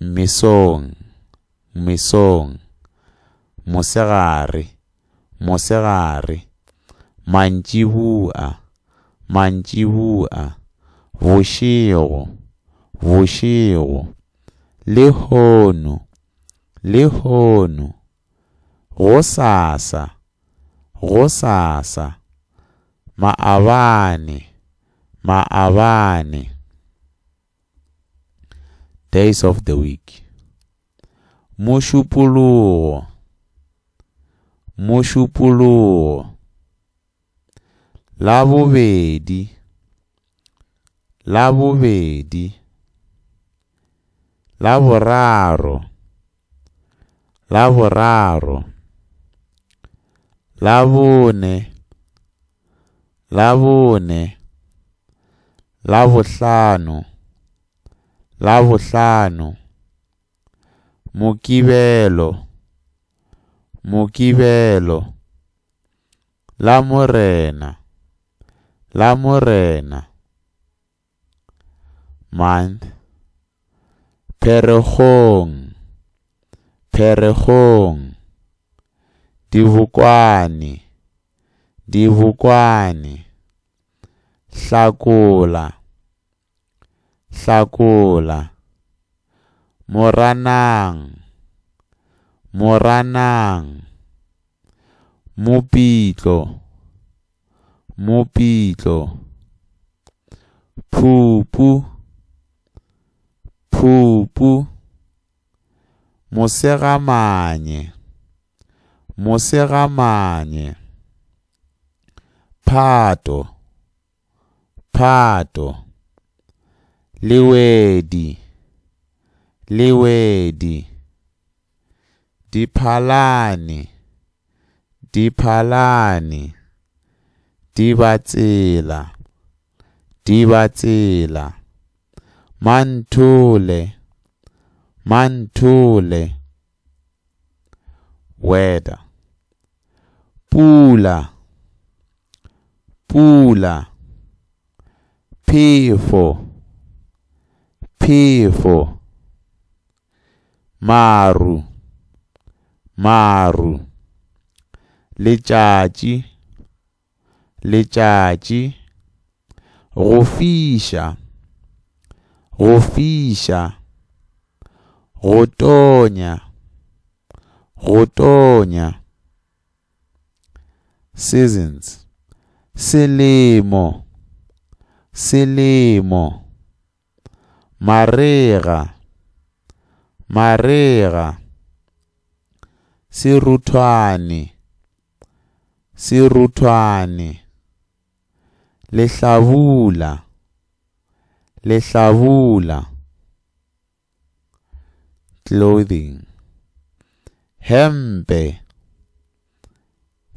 Mesong, mesong, mosegare, mosegare, mantšibua, mantšibua, bošego, bošego, lehono, lehono, gosasa, gosasa, maabane, maabane. Days of the Week Mošupologo Mošupologo La bobedi La bobedi La boraro laboraro labone labone labohlano labohlano mokibelo mokibelo la morena la morena Month, Pherekgong, Pherekgong. Dibokwane, Dibokwane. Hlakola, Hlakola. Moranang, Moranang. Mopitlo. Mopitlo. Phupu. Phupu. Mosegamanye. Mosegamanye. Phato. Phato. Lewedi. Lewedi. Diphalane. Diphalane, Dibatsela, Dibatsela, Manthole, Manthole, Weather, Pula, Pula, Phefo, Phefo, Maru, maru. Letšatši, letšatši. Go fiša, go fiša. Go tonya, go tonya. Seasons, selemo, selemo. Marega, marega. Seruthwane, seruthwane. Lehlabula, lehlabula. Clothing. Hempe,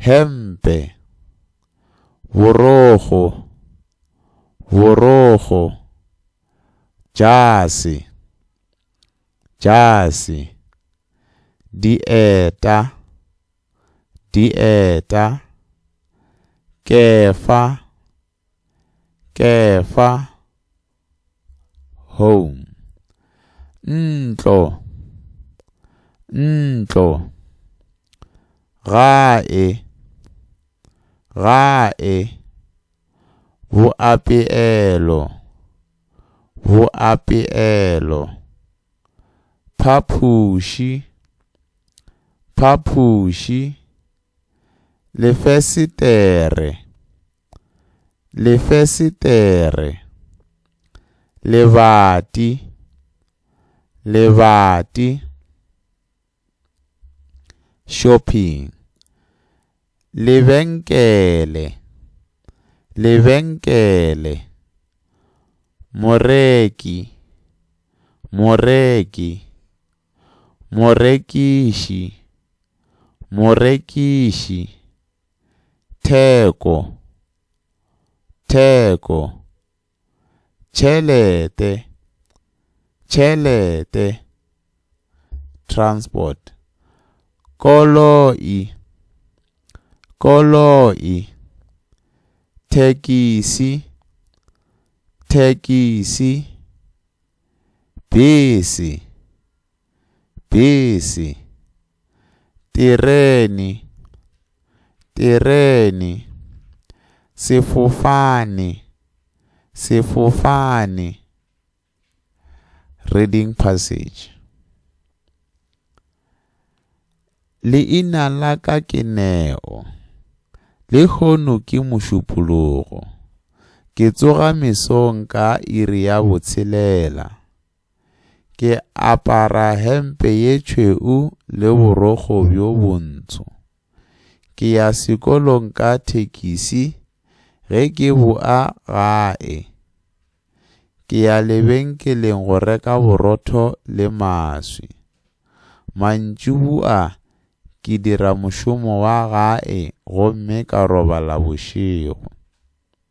Hempe. Borogo. Borogo. Jase. Jase. Dieta. Dieta. Kefa. Kefa, home. Ntlo, ntlo. Gae, gae. Boapeelo, boapeelo. Phaphuši, phaphuši. Lefesetere. Lefesetere Lebati Lebati Shopping Lebenkele Lebenkele Moreki Moreki Morekiši Morekiši Theko. Theko. Tšhelete. Tšhelete. Transport. Koloi. Koloi. Thekisi. Thekisi. Bese. Bese. Terene. Terene. Sefofane. Sefofane. Reading passage. Leina la ka ke Neo. Le hono ke mošupologo. Ke tsoga mesong ka iri ya botshelela. Ke apara hempe ye tšhweu le borokgo bjo bontsho. Ke ya sekolong ka thekisi ge ke boa gae. Ke ya lebenkeleng go reka borotho le maswi. Mantšubua ke dira mošomo wa gae gomme ka robala bošego.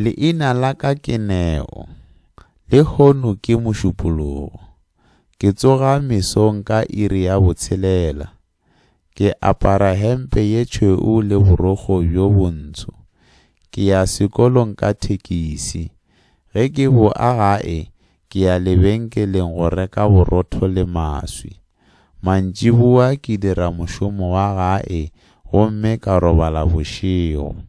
Leina la ka ke Neo, lehono ke mošupologo. Ke tsoga mesong ka iri ya botshelela. Ke apara hempe ye tšhweu le borokgo bjo bontsho. Ke ya sekolong ka thekisi. Ge ke boa gae, ke ya lebenkeleng go reka borotho le maswi. Mantšiboa ke dira mošomo wa gae gomme ka robala bošego.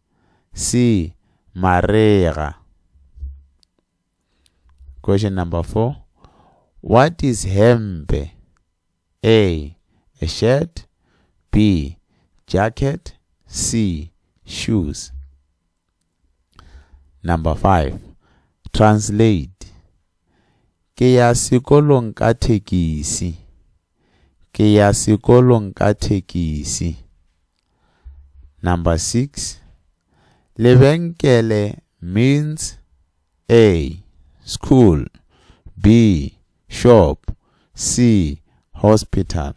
C. Marega. Question number four. What is hempe? A. A shirt. B. Jacket. C. Shoes. Number five. Translate. Ke ya sekolong ka thekisi. Ke ya sekolong ka thekisi. Number six, lebenkele means A, school, B, shop, C, hospital.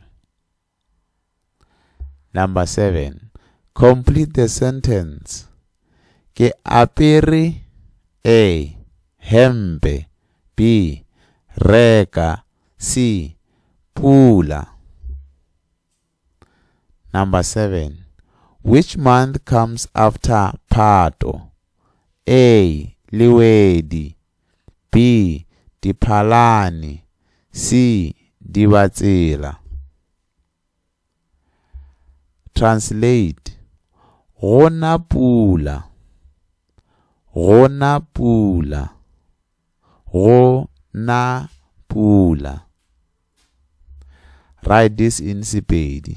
Number seven, complete the sentence. Ke apere A. Hempe B. Reka C. Pula Number seven, which month comes after Pato? A. Liwedi B. Diphalane C. Dibatsela Translate, Go na pula. Go na pula. Go na pula. Write this in Sepedi.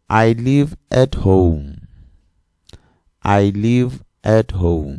I live at home. I live at home.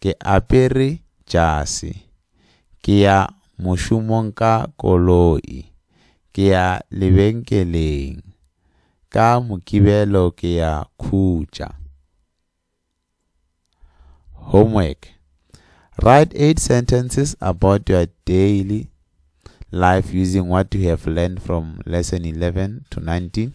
Ke apere jase. Ke ya mošomong ka koloi. Ke ya lebenkeleng. Ka Mokibelo ke ya khutša. Homework. Write eight sentences about your daily life using what you have learned from lesson 11 to 19.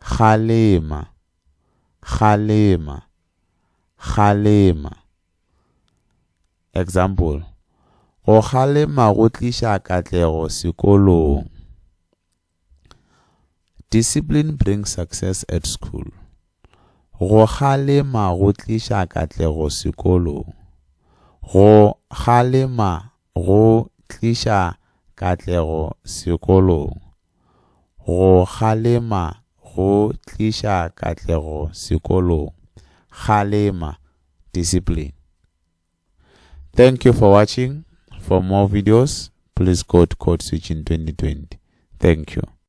Kgalema, kgalema, kgalema. Example, Go kgalema go tliša katlego sekolong. Discipline brings success at school. Go kgalema go tliša katlego sekolong. Go kgalema go tliša katlego sekolong. Go kgalema go tliša katlego sekolong. Kgalema, discipline. Thank you for watching. For more videos, please go to Code Switching 2020. Thank you.